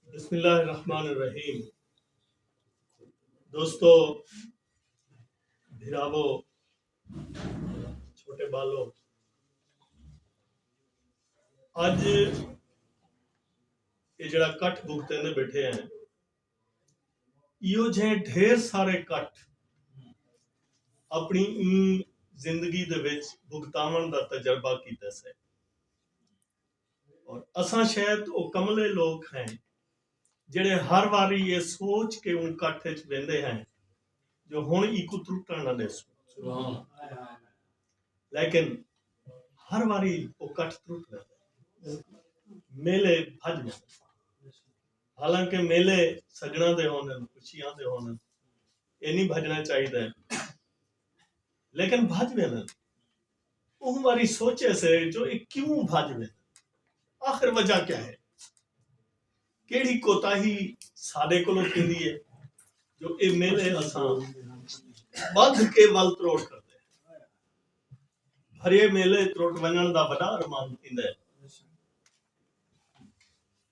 بسم اللہ الرحمن الرحیم دوستو بھراوو چھوٹے بالو اج یہ جڑا کٹ بکتے نے بیٹھے ہیں ایو جھے ڈھیر سارے کٹ اپنی این زندگی دے وچ بکتاون دا تجربہ کیتے سے اور اساں شاید او کملے لوک ہیں جیڑھے ہر واری اے سوچ کے اوں کٹھ اچ ویندے ہیں جو ہن ایکوں ترٹن نہ ڈیسوں لیکن ہر واری او کٹھ ترٹ ویندے میلے بھج ویندے حالانکہ میلے سجنا دے ہوندن خوشیاں دے ہوندن اے نہیں بھجنا چاہیے لیکن بھج ویندے اوں واری سوچے سے جو اے کیوں بھج ویندن؟ آخر وجہ کیا ہے؟ کیڑھی کوتاہی ساڈے کولوں تھیندی ہے جو اے میلے اساں بدھ کے ول تروڑ کر ہریے میلے تروٹ ونجن دا وڈا ارمان تھیندا ہے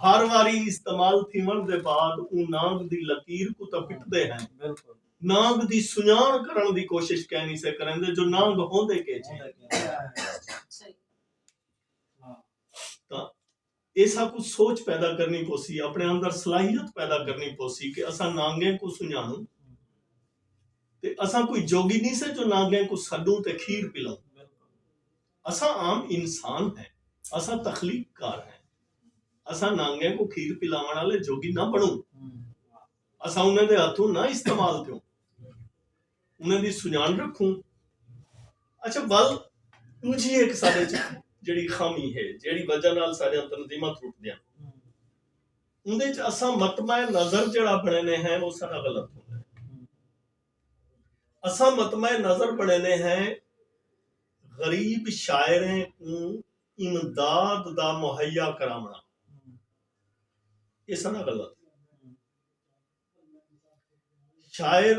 ہر واری استعمال تھیوݨ دے بعد اوں نانگ دی لکیر کوں تاں پٹدے ہن نانگ دی سنڄاݨ کرݨ دی کوشش کینی سے کریندے جو نانگ ہوندے کیجھے ہن تاں ایساکوں سوچ پیدا کرݨی پوسی اپݨے اندر صلاحیت پیدا کرݨی پوسی کہ اساں نانگیں کوں سنڄاݨوں تے اساں کوئی جوگی نی سے جو نانگیں کوں سݙوں تے کھیر پلاؤں اساں عام انسان ہیں اساں تخلیق کار ہیں اساں نانگیں کو کھیر پلاون والے جوگی نہ بنوں اساں انہیں دے ہتھوں نہ استعمال تھوں انہیں دی سنان رکھوں اچھا ول تجھی ایک سارے جڑی خامی ہے جڑی وجہ نال سارے تنظیمہ ٹوٹ دیا اندے چ اساں مطمئن نظر جڑا بڑھنے ہیں وہ سارا غلط ہوتا ہے اساں مطمع نظر بݨیندے ہیں غریب شاعریں کوں امداد دا مہیا کراوݨا اے سݙا غلط شاعر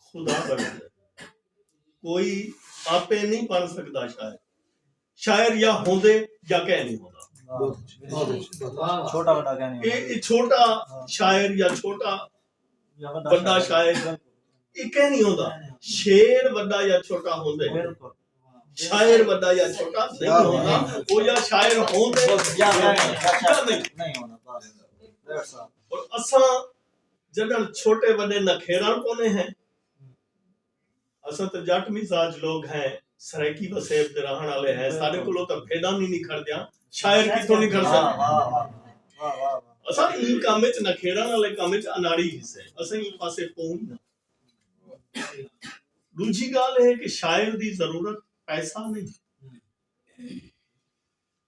خدا بݨیندے کوئی آپے نی بݨ سڳدا شاعر شاعر یا ہوندے یا کہہ نہیں ہوندا یہ چھوٹا شاعر یا چھوٹا بڑا شاعر یہ کہہ نہیں ہوندا شیر بڑا یا چھوٹا ہوندے شاعر بڑا یا چھوٹا نہیں ہوندا وہ یا شاعر ہوندے یا نہیں ہونا اور اساں جنہاں چھوٹے بڑے نکھیران پونے ہیں اساں تاں جٹ مزاج لوگ ہیں سرائیکی وسیب دے رہݨ آلے ہیں ساڈے کولوں تاں بھیݙاں وی نکھڑدیاں شاعر کتھوں نکھڑسن اساں ایں کم اچ نکھیڑݨ آلے کم اچ اناڑی ہیسے اساں ایں پاسے پوئوں نہ ݙوجھی ڳالھ اے کہ شاعر دی ضرورت پیسہ نئیں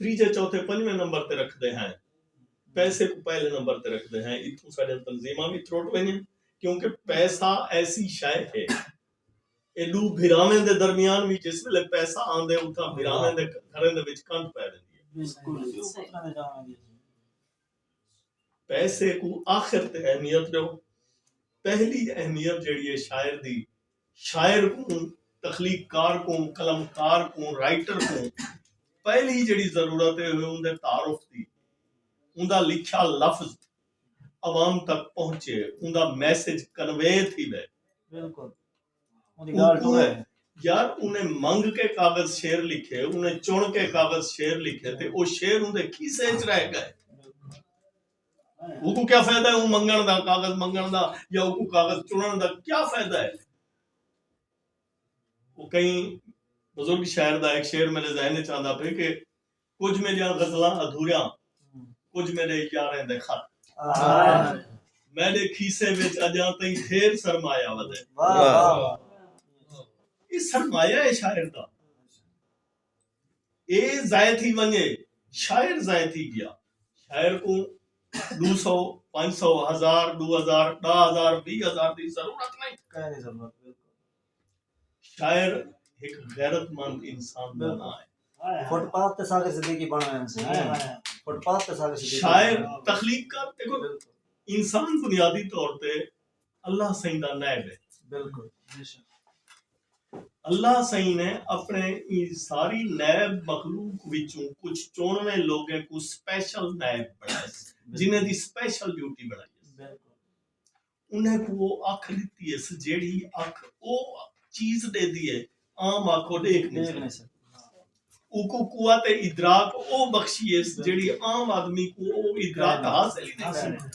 تریجھے چوتھے پنجویں نمبر تے رکھدے ہیں پیسے کو پہلے نمبر تے رکھدے ہیں اتھوں ساڈیاں تنظیماں وی تروٹ وینجن کیونکہ پیسہ ایسی شے ہے اے ڈو بھراویں دے درمیان وی جس ویلے پیسہ آندے اتھاں بھراویں دے گھریں دے وچ کنڈ پے ویندی ہے پیسے کوں آخر تے اہمیت ݙیو، پہلی اہمیت جیڑھی ہے شاعر دی، شاعر کوں، تخلیق کار کوں، قلم کار کوں، رائٹر کوں پہلی جیڑھی ضرورت ہے اوہ اوندے تعارف دی، اوندا لکھیا لفظ عوام تک پہنچے، اوندا میسج کنوے تھیوے۔ اوکوں یار انہیں منگ کے کاغذ شعر لکھے انہیں چن کے کاغذ شعر لکھے تے او شعر اوندے کھیسے اچ رہ گئے اوکوں کیا فائدہ ہے اوں منگن دا کاغذ منگن دا یا اوکوں کاغذ چنن دا کیا فائدہ ہے او کہیں بزرگ شاعر دا ایک شعر میرے ذہن اچ آندا پے کہ کجھ میڈیاں غزلاں ادھوریاں کجھ میڈے یاریں دے خط میڈے کھیسے وچ اجاں تئیں ڈھیر سرمایہ ودے اے سرمایہ اے شاعر دا اے ضائع تھی ونجے شاعر ضائع تھی گیا شاعر کوں ڈو سو پنج سو ہزار ڈو ہزار ڈاہ ہزار وی ہزار دی ضرورت نہیں شاعر ہک غیرت مند انسان دا ناں ہے۔ شاعر تخلیق کر دیکھو انسان بنیادی طور تے اللہ سائیں دا نائب ہے بالکل اللہ سائیں نے اپنے ساری نائب مخلوق وچوں کچھ چونویں لوگیں کو سپیشل نائب بنائے جنہیں دی سپیشل ڈیوٹی بنائی انھیں کوں او اکھ ݙتی ہیس جیڑھی اکھ او چیز ݙیندی ہے عام اکھ او ݙیکھ نھیں سڳدی۔ اوکوں قوت ادراک او بخشی ہیس جیڑھی عام آدمی کوں او ادراک حاصل ای نھیں سڳدی۔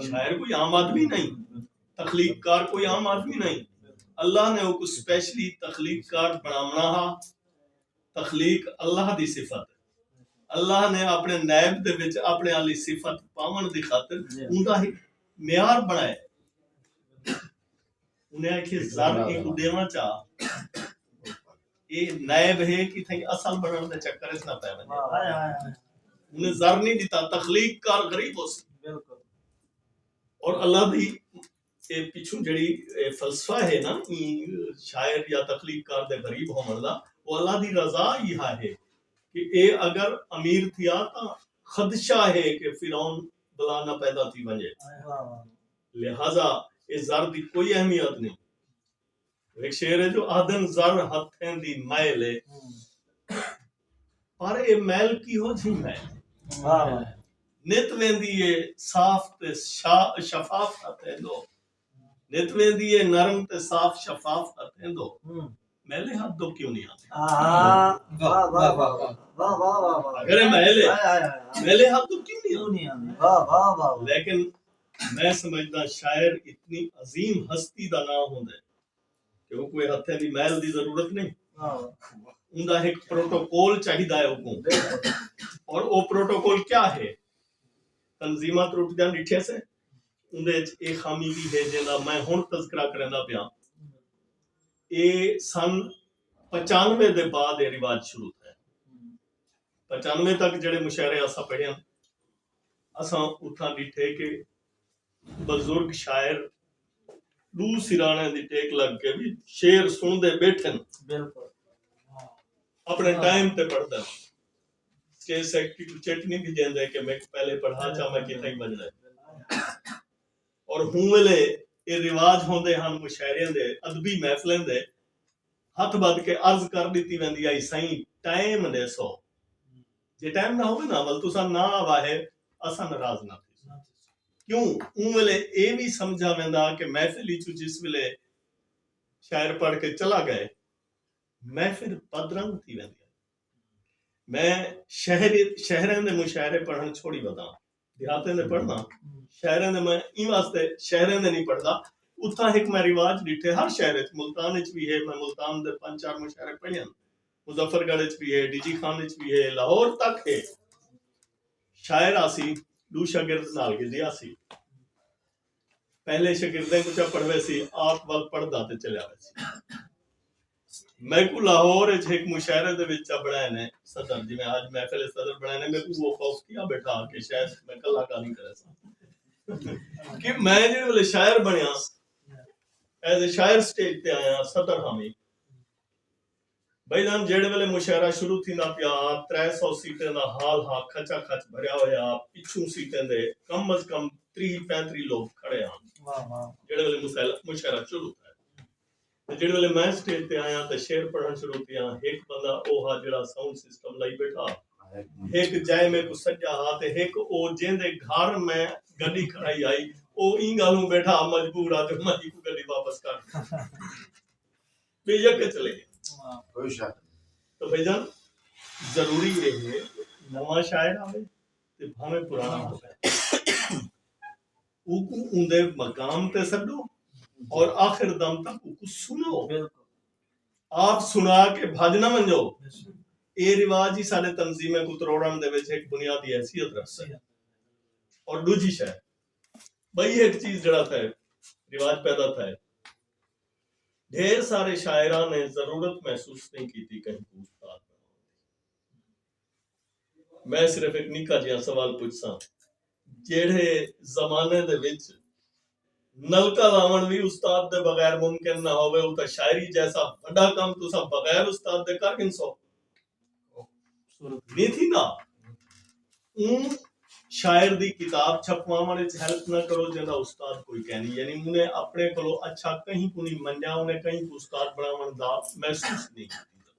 شاعر کوئی عام آدمی نھیں۔ تخلیق کار کوئی عام آدمی نھیں۔ اللہ نے اوکوں سپیشلی تخلیق کار بݨاوݨا ہا۔ تخلیق اللہ دی صفت ہے۔ اللہ نے اپݨے نیب دے وچ اپݨے آلی صفت پاوݨ دی خاطر اوندا ہک معیار بݨائے۔ انہیں آکھیے زر اینکوں ݙیواں چا اے نیب ہے کتھائیں اصل بݨݨ دے چکر اچ نہ پئے ونڄے۔ انہیں زر نی ݙتا تخلیق کار غریب ہوسی۔ اور اللہ دی۔ اے پچھوں جیڑھی فلسفہ ہے نا ایں شاعر یا تخلیق کار دے غریب ہووݨ دا او اللہ دی رضا ای ہا ہے کہ اے اگر امیر تھیا تاں خدشہ ہے کہ فرعون بلا نہ پیدا تھی ونڄے لہذا اے زر دی کوئی اہمیت نئیں۔ ہک شعر ہے جو آہدن زر ہتھیں دی میل ہے پر اے میل کیہو جھی میل ہے نت ویندی ہے صاف تے شفاف ہتھیں دو نت ویندی ہے نرم تے صاف شفاف ہتھیں دو میلے ہاتھ دو کیوں نہیں آتے اگر میلے میلے ہاتھ دو کیوں نہیں آتے لیکن میں سمجھدا شاعر اتنی عظیم ہستی دا ناں ہوندے کہ اوکوں اے ہتھیں دی میل دی ضرورت نئیں اوندا ہک پروٹوکول چاہیدا اے اوکوں اور او پروٹوکول کیا ہے تنظیماں ترٹدیاں ڈٹھے سے اوندے اچ اے خامی وی ہے جیندا میں ہن تذکرہ کریندا پیاں اے سن پچانوے دے بعد اے رواج شروع تھئے پچانوے تک جیڑھے مشاعرے اساں پڑھیاں اساں اتھاں ڈٹھے کہ بزرگ شاعر ڈو سراݨیاں دی ٹیک لگ کے وی شعر سنڑدے بیٹھن۔ اپنڑے ٹائم تے پڑھدن۔ سٹیج سیکرٹری کوں چٹ نی تھی جیندے کہ میکوں پہلے پڑھا چا میں کتھاں ای ونجنڑے۔ اور ہوں ویلے اے رواج ہوندے ہن مشاعریاں دے ادبی محفلیں دے ہتھ بدھ کے عرض کر ڈتی ویندی ہائی سائیں ٹائم ڈیسو۔ جے ٹائم نہ ہووے نا ول تساں نہ آواہے اساں ناراض نہ تھیسوں کیوں اوں ویلے اے وی سمجھا ویندا کہ محفل اچوں جس ویلے شاعر پڑھ کے چلا گئے محفل پدرنگ تھی ویندی ہے میں شہر شہراں دے مشاعرے پڑھن چھوڑی وداں دیہاتیں دے پڑھدا شہریں دے میں ایں واسطے شہریں دے نہیں پڑھدا اتھاں ہک میں رواج ڈٹھے ہر شہر وچ ملتان وچ بھی ہے میں ملتان دے پنج چار مشاعرے پڑھے ہیں مظفر گڑھ وچ بھی ہے ڈی جی خان وچ بھی ہے لاہور تک ہے شاعر آسی دو شاگرد نال گدی آسی پہلے شاگردیں کوں چا پڑھویسی آپ ول پڑھدا تے چلیا ویسی۔ میکوں لاہور اچ ہک مشاعرے دے وچ چا بنڑائے نے صدر جیویں اج محفل صدر بنڑائے نے میکوں اوہ خوف تھیا بیٹھا کہ شاید میں کلا گالھیں کریساں کہ میں جیڑھے ویلے شاعر بنڑیاں ایز اے شاعر سٹیج تے آیاں صدر ہاں وی بھئی جان جیڑھے ویلے مشاعرہ شروع تھیندا پیا ہا ترے سو سیٹیں دا ہال ہا کھچا کھچ بھریا ہویا ہا پچھوں سیٹیں دے کم از کم تریہہ پینتریہہ لوک کھڑے ہن جیڑھے ویلے مشاعرہ شروع تھیا تے جیڑھے ویلے میں سٹیج تے آیاں تے شعر پڑھن شروع تھیاں ہک بندہ او ہا جیڑھا ساؤنڈ سسٹم لائی بیٹھا ہا ہک جئے میکوں سڈیا ہا تے ہک او جیندے گھر میں گڈی کھڑائی ہائی او ایں گالھوں بیٹھا ہا مجبور ہا جو میں ایکوں گڈی واپس کر ڈیواں بے یک اچ لے کوئی شک تو بھائی جان ضروری ہے ہے نواں شاعر آوے تے بھاویں پرانا آوے او کو اوندے مقام تے سڈو اور آخر دم تک او کو سنو آپ سنا کے بھج نہ منجو اے رواج ہی سارے تنظیم کو تروڑن دے وچ ایک بنیادی حیثیت رکھ سکے اور دوجی شاید بھائی ایک چیز جڑا تھا رواج پیدا تھا ہے ڈھیر سارے شاعراں نے ضرورت محسوس نئیں کیتی کہیں کوں استاد بنڑاونڑ دی۔ میں صرف ہک نکا جیہاں سوال پچھساں جیہڑے زمانے دے وچ نلکا لاونڑ وی استاد دے بغیر ممکن نہ ہووے اتھاں شاعری جیسا وڈا کم تساں بغیر استاد دے کر گھنسو؟ نہیں تھی نا اون شاعر دی کتاب چھپواوݨ وچ ہیلپ نہ کرو جیندا استاد کوئی کہنی یعنی اوں نے اپنے کولو اچھا کہیں کو نہیں منیا اوں نے کہیں کو استاد بناوݨ دا محسوس نہیں کیتا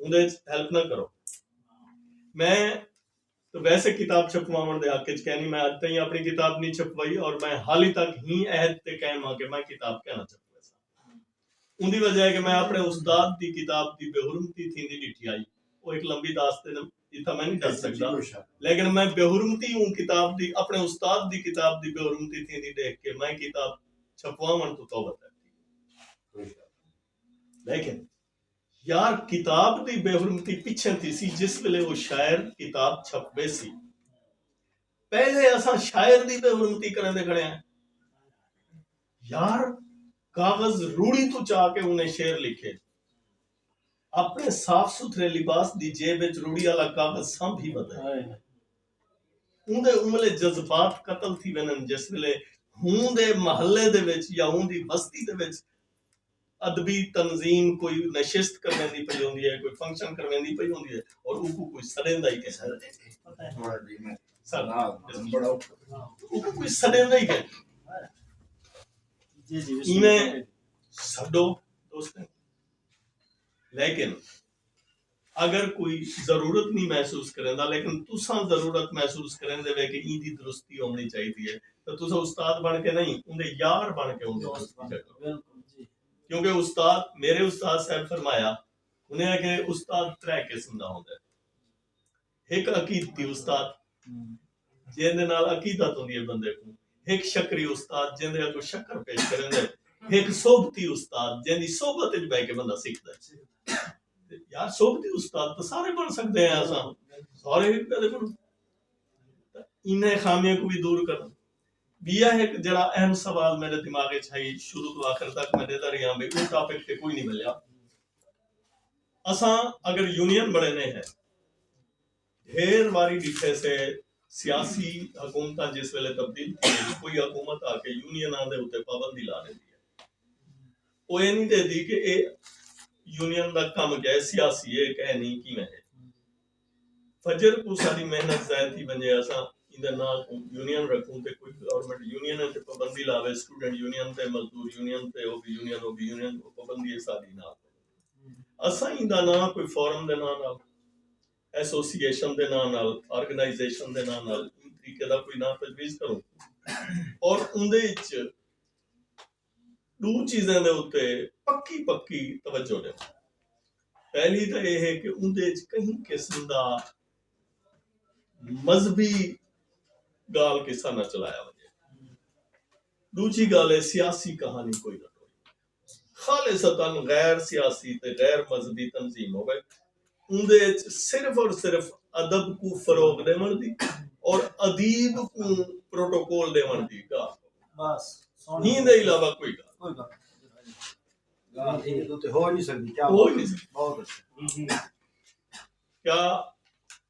اوں دے ہیلپ نہ کرو میں ویسے کتاب چھپواوݨ دے حق اچ کینی، میں اج تئیں اپݨی کتاب نی چھپوائی اور میں حالی تک ہی عہد تے قائم ہاں کہ میں کتاب کینا چھپویساں۔ اوندی وجہ اے کہ میں اپݨے استاد دی کتاب دی بے حرمتی تھیندی ݙٹھی ہائی۔ او ہک لمبی داستن اے جتھاں میں نی ڈس سڳدا لیکن میں بے حرمتی اوں کتاب دی اپݨے استاد دی کتاب دی بے حرمتی تھیندی ݙیکھ کے میں کتاب چھپواوݨ توں توبہ کر گھدی۔ یار کتاب دی بے حرمتی پچھے تھیسی جس ویلے او شاعر کتاب چھپ بیسی پہلے اساں شاعر دی بے حرمتی کریندے کھڑے ہیں یار کاغذ روڑی تو چا کے انہیں شعر لکھے اپنے صاف ستھرے لباس دی جیب وچ روڑی والا کاغذ سانپ ہی ودا ہے اوندے املے جذبات قتل تھی وینن جس ویلے ہوں دے محلے دے وچ یا ہوں دی بستی دے وچ ادبی تنظیم کوئی نشست کرویندی پئی ہوندی ہے کوئی فنکشن کرویندی پئی ہوندی ہے اور اوکوں کوئی سڈیندا ہی کہیں اوکوں کوئی سڈیندا ہی کہیں ایویں سڈو دوستیں لیکن اگر کوئی ضرورت نی محسوس کریندا لیکن تساں ضرورت محسوس کریندے وے کہ ایندی درستی ہوونڑی چاہیدی ہے تاں تساں استاد بنڑ کے نئیں اوندے یار بنڑ کے اوندی درستی چا کرو کیونکہ استاد میرے استاد صاحب فرمایا انہیں آکھیا استاد ترے قسم دا ہوندے ہک عقیدتی استاد جیندے نال عقیدت ہوندی ہے بندے کوں ہک شکری استاد جیندے اگوں شکر پیش کریندے ہک صحبتی استاد جیندی صحبت وچ بیٹھ کے بندہ سیکھدا ہے یار صحبتی استاد تو سارے بن سکدے ہیں اساں سارے ہک پہلے بن انہیں خامیاں کو بھی دور کرنا بیا ہے کہ جڑا اہم سوال میرے دماغ ہے شروع تو آخر تک میں دیتا رہی ہوں بھئی کوئی ٹاپک تے کوئی نہیں ملیا اساں اگر یونین بنڑینے ہیں ڈھیر واری ڈیکھے سے سیاسی حکومتاں جس ویلے تبدیل تھیندی کوئی حکومت آ کے یونیناں دے اتے پابندی لا ڈیندی ہے او اے نی ڈیندی کہ اے یونین دا کم کیا ہے سیاسی اے کہ نی کیویں ہے فجر کو ساری محنت ضائع تھی ونجے اساں ایندے نال یونین رکھوں تے کوئی گورنمنٹ یونین تے پابندی لاوے سٹوڈنٹ یونین تے مزدور یونین تے او بھی یونین او بھی یونین پابندی ہے ساری نال اساں ایندا ناں کوئی فورم دے ناں نال، ایسوسی ایشن دے ناں نال، آرگنائزیشن دے ناں نال ایں طریقے دا کوئی ناں تجویز کروں اور اوندے اچ ݙو چیزیں دے اتے پکی پکی توجہ ݙیوں۔ پہلی تاں ایہ ہے کہ اوندے اچ کہیں قسم دا مذہبی ڳالھ قصہ نہ چلایا ونڄے۔ ݙوجھی ڳالھ ہے سیاسی کہانی کوئی نہ ٹوری ونڄے۔ خالصتا غیر سیاسی تے غیر مذہبی تنظیم ہووے اوندے اچ صرف اور صرف ادب کوں فروغ ݙیوݨ دی اور ادیب کوں پروٹوکول ݙیوݨ دی ڳالھ ہووے ایں دے علاوہ کوئی ڳالھ کیا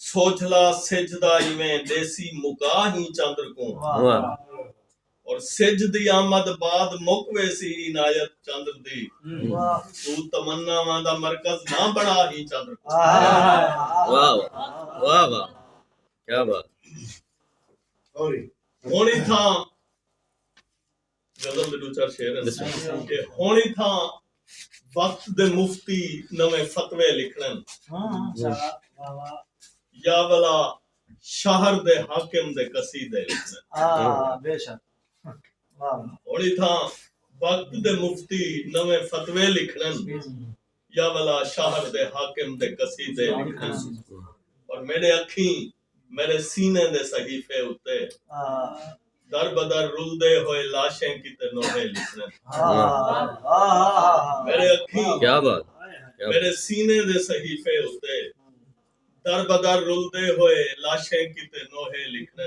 سوجھلا سجھ دا ایویں ݙیسی مکا ہیں چندر کوں اور سجھ دی آمد بعد مک ویسی عنایت چندر دی تو تمناواں دا مرکز نہ بنا ہیں چندر کوں واہ واہ واہ کیا بات ہن اتھاں غزل دے ݙو چار شعر ہن کہ ہݨ اتھاں وقت دے مفتی نویں فتوے لکھݨن یا ولا شہر دے حاکم دے قصیدے لکھݨن ہݨ اتھاں وقت دے مفتی نویں فتوے لکھݨن یا ولا شہر دے حاکم دے قصیدے لکھݨن پر میݙے اکھیں میݙے سینے دے صحیفے اتے در بدر رلدے ہوئے لاشیں کیتے نوحے لکھݨے میݙے اکھیں میݙے سینے دے صحیفے اتے در بدر رلدے ہوئے لاشیں کیتے نوحے لکھݨے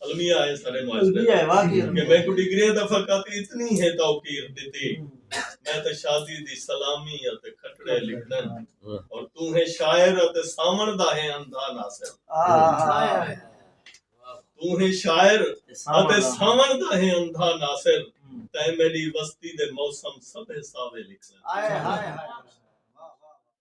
المیہ ہے سارے معاشرے دا کہ میکوں ڈگریاں دا فقط اتنی ہے توقیر ڈتی میں تے شازی دی سلامی اتے کھٹڑے لکھݨ اور تو ہے شاعر اتے ساوݨ دا ہے اندھا ناصر تو ہے شاعر اتے ساوݨ دا ہے اندھا ناصر تے میڈی وستی دے موسم سبھے ساوے لکھݨ